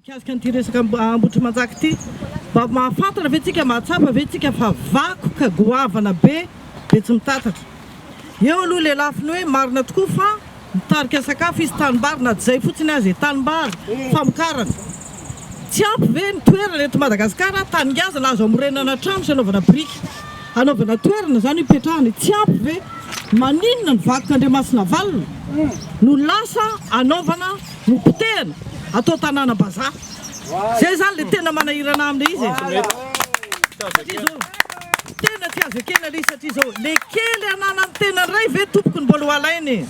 Mikasika an'ity resaka Ambohitrimanjaka ity, mba mahafantatra ve tsika, mahatsapa ve tsika fa vakoka goavana be Betsimitatatra? Eo aloha ilay lafiny hoe marina tokoa fa mitarika sakafo izy, tanimbary na tsy izay fotsiny aza e, tanimbary, famokarana. Tsy ampy ve ny toerana eto Madagasikara, tany ngazana azo amorenana trano sy anaovana biriky, anaovana toerana izany hipetrahana e, tsy ampy ve? Maninona ny vakik'Andriamasinavalona no lasa anaovana, no potehana atao tanàna bazaha? Izay izany ilay tena manahirana aminy izy e. Tena tsy azo ekena le izy satria izao le kely ananan'ny tena indray ve tompoko no mbola ho alaina e!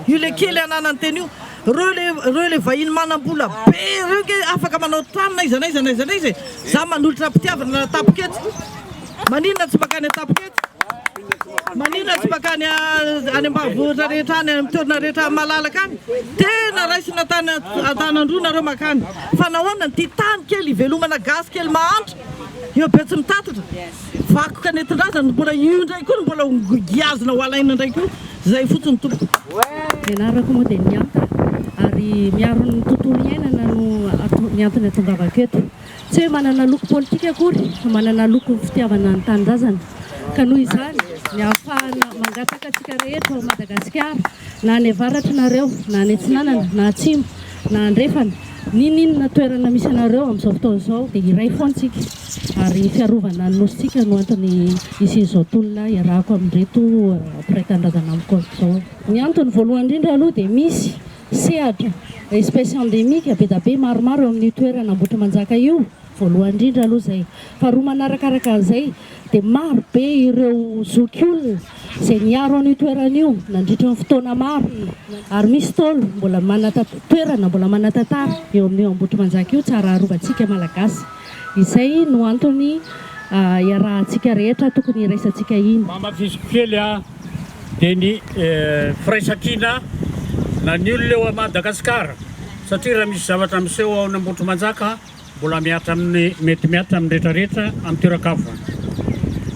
io le kely ananan'ny tena io, reo le reo le vahiny manam-bola be reo nge afaka manao trano na iza na iza na iza na iza e! za manolotra am-pitiavana na tapitra eto, maninona tsy mankany an-tapitra eto? maninona tsy mankany any ambanivohitra rehetra any amin'ny toerana rehetra malalaka any? tena raisina an-tanan-droa nareo mankany, fa nahoana ny tia tany kely hivelomana gasy kely mahantra? Eo Betsimitatatra, vakoka nentin-drazana no mbola io indray koa no mbola ho giazina ho alaina indray koa. Izay fotsiny tompoko. Nianarako modely miantra ary miaro ny tontolo iainana no ny antony atongavako eto. Tsy hoe manana loko politika akory fa manana loko ny fitiavana ny tanindrazana ka noho izany ny ahafahana mangataka antsika rehetra ao Madagasikara na any avaratra nareo na any atsinanana na atsimo Na andrefana ninoninona toerana misy anareo amin'izao fotoana izao dia iray foana isika ary ny fiarovana ny Nosintsika no antony hisian'izao tolona iarahako amin'ireto mpiray tanindrazana amiko ato izao. Ny antony voalohany indrindra aloha dia misy sehatra, espèce endémique, be dia be maromaro eo amin'io toerana Ambohitrimanjaka io Voalohany indrindra aloha izay. Faharoa manarakaraka an'izay dia maro be ireo zokiolona izay niaro an'io toerana io nandritra ny fotoana maro ary misy Ntaolo mbola manata toerana mbola manatantara eo amin'io Ambohitrimanjaka io tsara arovantsika Malagasy. Izay no antony iarahantsika rehetra tokony iraisantsika iny. Mamafisiko kely aho dia ny firaisankina na ny olona eo Madagasikara satria raha misy zavatra miseho ao Ambohitrimanjaka Mbola mihatra amin'ny, mety mihatra amin'ny rehetra rehetra amin'ny toeran-kavoana.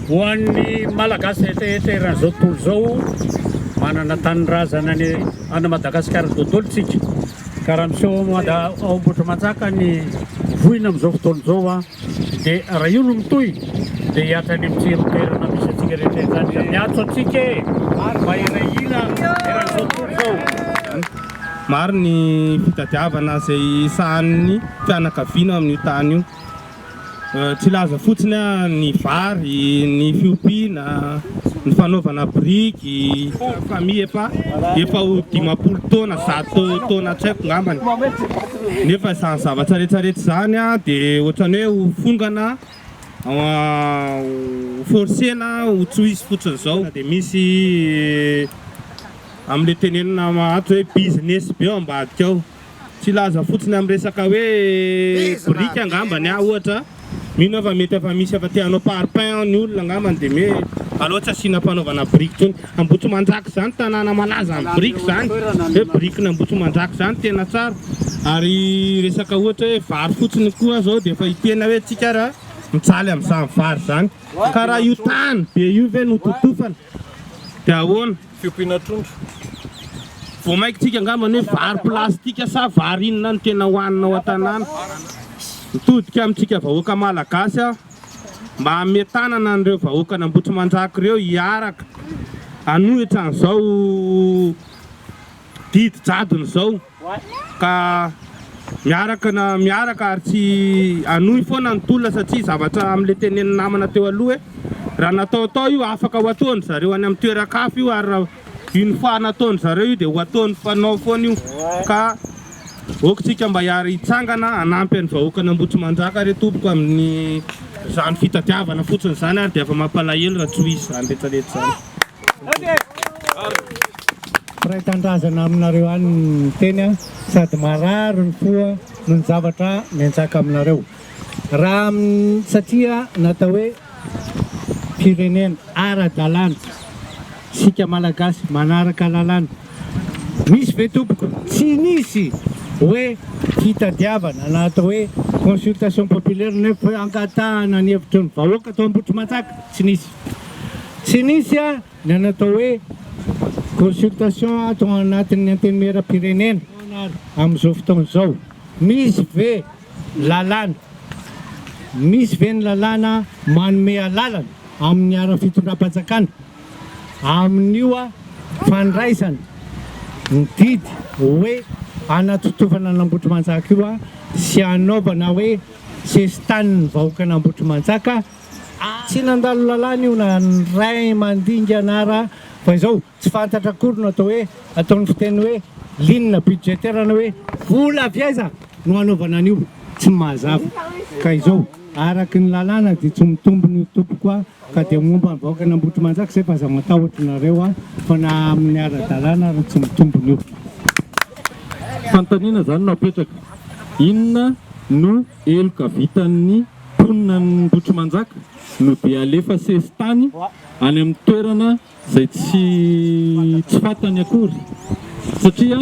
Ho an'ny Malagasy rehetra rehetra eran'izao tontolo izao, manana tanindrazana any any Madagasikara dodolo tsika. Ka raha miseho ao Mada, ao Ambohitrimanjaka ny voina amin'izao fotoana izao an, dia raha io no mitohy dia hihatra any amin'ny tsiro toerana misy antsika rehetra rehetra any ka miantso antsika e! Mahery ahy hina eran'izao tontolo izao. Maro ny fitadiavana izay sahanin'ny fianakaviana amin'io tany io. Tsy hilaza fotsiny aho ny vary, ny fiompiana, ny fanaovana biriky. Famille efa efa ho dimampolo taona, zato taona tsy haiko ngambany. Nefa izany zavatra rehetra rehetra izany dia ohatran'ny hoe ho fongana ho forcer na ho tsohizo fotsiny izao dia misy amin'ilay tenenina ato hoe business be ao ambadika ao filaza fotsiny amin'ny resaka hoe boriky angambany aho ohatra mino aho fa mety efa misy efa te hanao parpaing ny olona angambany dia hoe aleo tsy asiana fanaovana boriky intsony Ambohitsimanjaka zany tanàna malaza am biriky zany hoe birikin Ambohitsimanjaka zany tena tsara ary resaka ohatra hoe vary fotsiny koa zao dia efa hitena hoe tsika ara mijaly amzany vary zany ka raha io tany be io ve no totofana dia ahoana fiompiana trondro vao mainka tsika angambany hoe vary plastika sa vary inona no tena hohanina ao an tanàna mitodika amtsika vahoaka malagasy aho. mba hanome tanana an'ireo vahoakan'Ambohitrimanjaka ireo hiaraka hanohitra an'izao didy jadona izao ka miaraka na miaraka ary tsy hanohy foana ny tolona satria zavatra amin'ilay tenenin'ny namana teo aloha hoe raha natao tao io afaka ho ataon'izareo any amin'ny toeran-kafa io ary raha Une fois nataon zareo io de ho ataony fanao foana io ka ok tsika mba hiary hitsangana hanampy any vahoakan Ambohitrimanjaka re tompoko aminy zany fitadiavana fotsiny zany ary de efa mampalahelo raha tsy ho izy zany retsaretsa zany. Mpiray tanindrazana aminareo any ny teny a, sady marary ny fo noho ny zavatra mianjaka aminareo. Raha satria natao hoe. firenena ara-dalàna isika Malagasy manaraka lalàna. Misy ve tompoko? Tsy nisy hoe fitadiavana na atao hoe consultation populaire na hoe fangatahana ny hevitry ny vahoaka tao Ambohitrimanjaka, tsy nisy. Tsy nisy ny an'ny atao hoe consultation tao anatin'ny Antenimieram-pirenena amin'izao fotoana izao. Misy ve? Lalàna, Misy ve ny lalàna manome alalana amin'ny ara fitondram-panjakana amin'io fandraisana ny didy hoe anatotovana an'Ambohitrimanjaka io sy hanaovana hoe sesitanin'ny vahoakan'Ambohitrimanjaka? Tsy nandalo lalàna io na ny ray aman-dingy anara fa izao. Tsy fantatra akory no atao hoe, ataon'ny fiteny hoe ligne budgétaire na hoe vola avy aiza no hanaovana an'io? Tsy mahazava. Ka izao, araka ny lalàna dia tsy mitombina io tompoko a! Ka dia momba ny vahoakan'Ambohitrimanjaka izay fa aza matahotra nareo a! Fa na amin'ny ara-dalàna ary tsy mitombina io. Fanontaniana izany no apetraka, inona no heloka vitan'ny mponina an'Ambohitrimanjaka no dia alefa sesitany any amin'ny toerana Izay tsy tsy fantany akory satria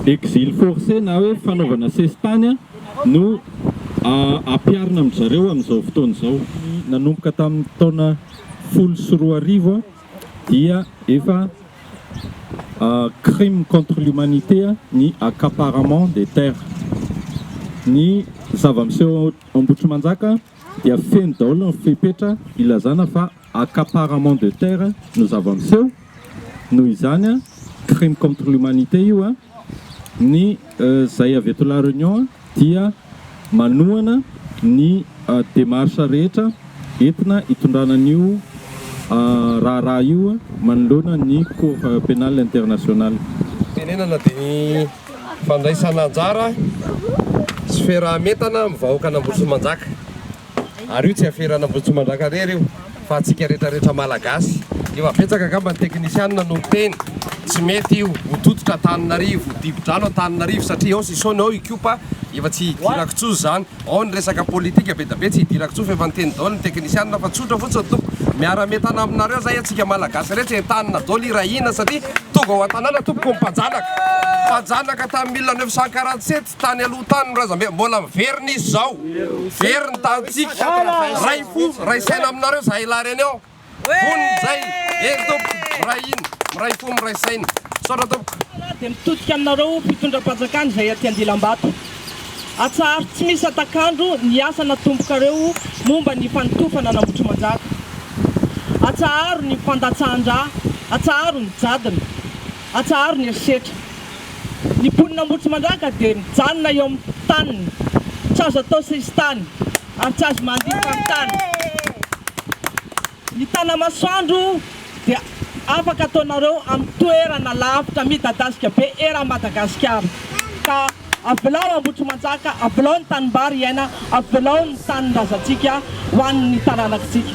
exil forcé na hoe fanaovana sesitany no ampiharina amin-dry zareo amin'izao fotoana izao. Nanomboka tamin'ny taona folo sy roa arivo dia efa crime contre l'humanité ny accaparement des terres. Ny zava-miseho ao Ambohitrimanjaka dia feno daholo ny fepetra ilazana fa Accaparement de terre no zava-miseho, noho izany crime contre l'humanité io, ny zay avy eto la Réunion dia manohana ny démarche rehetra entina hitondrana an'io raharaha io manoloana ny cour pénale internationale. Tenenana dia ny fandraisana anjara sy fiaraha-mientana amin'ny vahoakan'Ambosimanjaka. Ary io tsy aferana Ambohitsomandrankarery io fa antsika retraretra Malagasy. Efa betsaka angamba ny teknisianina no miteny tsy mety io ho tototra Antananarivo, dibo-drano Antananarivo satria ao Sisaony ao Ikopa efa tsy hidirako intsony izany, ao ny resaka politika bedabe tsy hidirako intsony fa efa niteny daoly ny teknisianina fa tsotra fotsiny tompoko miara-mientana aminareo zay antsika Malagasy rehetra entanina daoly hirahina satria tonga ao an-tanàna tompoko ny mpajanaka mpajanaka tamin'ny mille neuf cent quarante sept Tsy tany aloha tany ny razambe, mbola very ny izy izao, very ny tanintsika, ray fo, ray saina aminareo zahay lahy reny ao, vonona izay, eny tompoko, miray hina, miray fo, miray saina, misaotra tompoko. Dia mitodika aminareo fitondram-panjakana izay aty Andilambato. Atsaharo tsy misy hatak'andro ny asa natombokareo momba ny fanotofana an'Ambohitrimanjaka. Atsaharo ny fandatsahan-drà, atsaharo ny jadona. Atsaharo ny herisetra. Ny mponin'Ambohitrimandraka dia mijanona eo amin'ny taniny, tsy azo atao sesitany ary tsy azo mandihy faritany. Ny Tanamasoandro dia afaka ataonareo amin'ny toerana lavitra midadasika be eran'i Madagasikara. Ka avelao Ambohitrimanjaka, avelao ny tanimbary hiaina, avelao ny tanin-drazantsika ho an'ny taranak'tsika.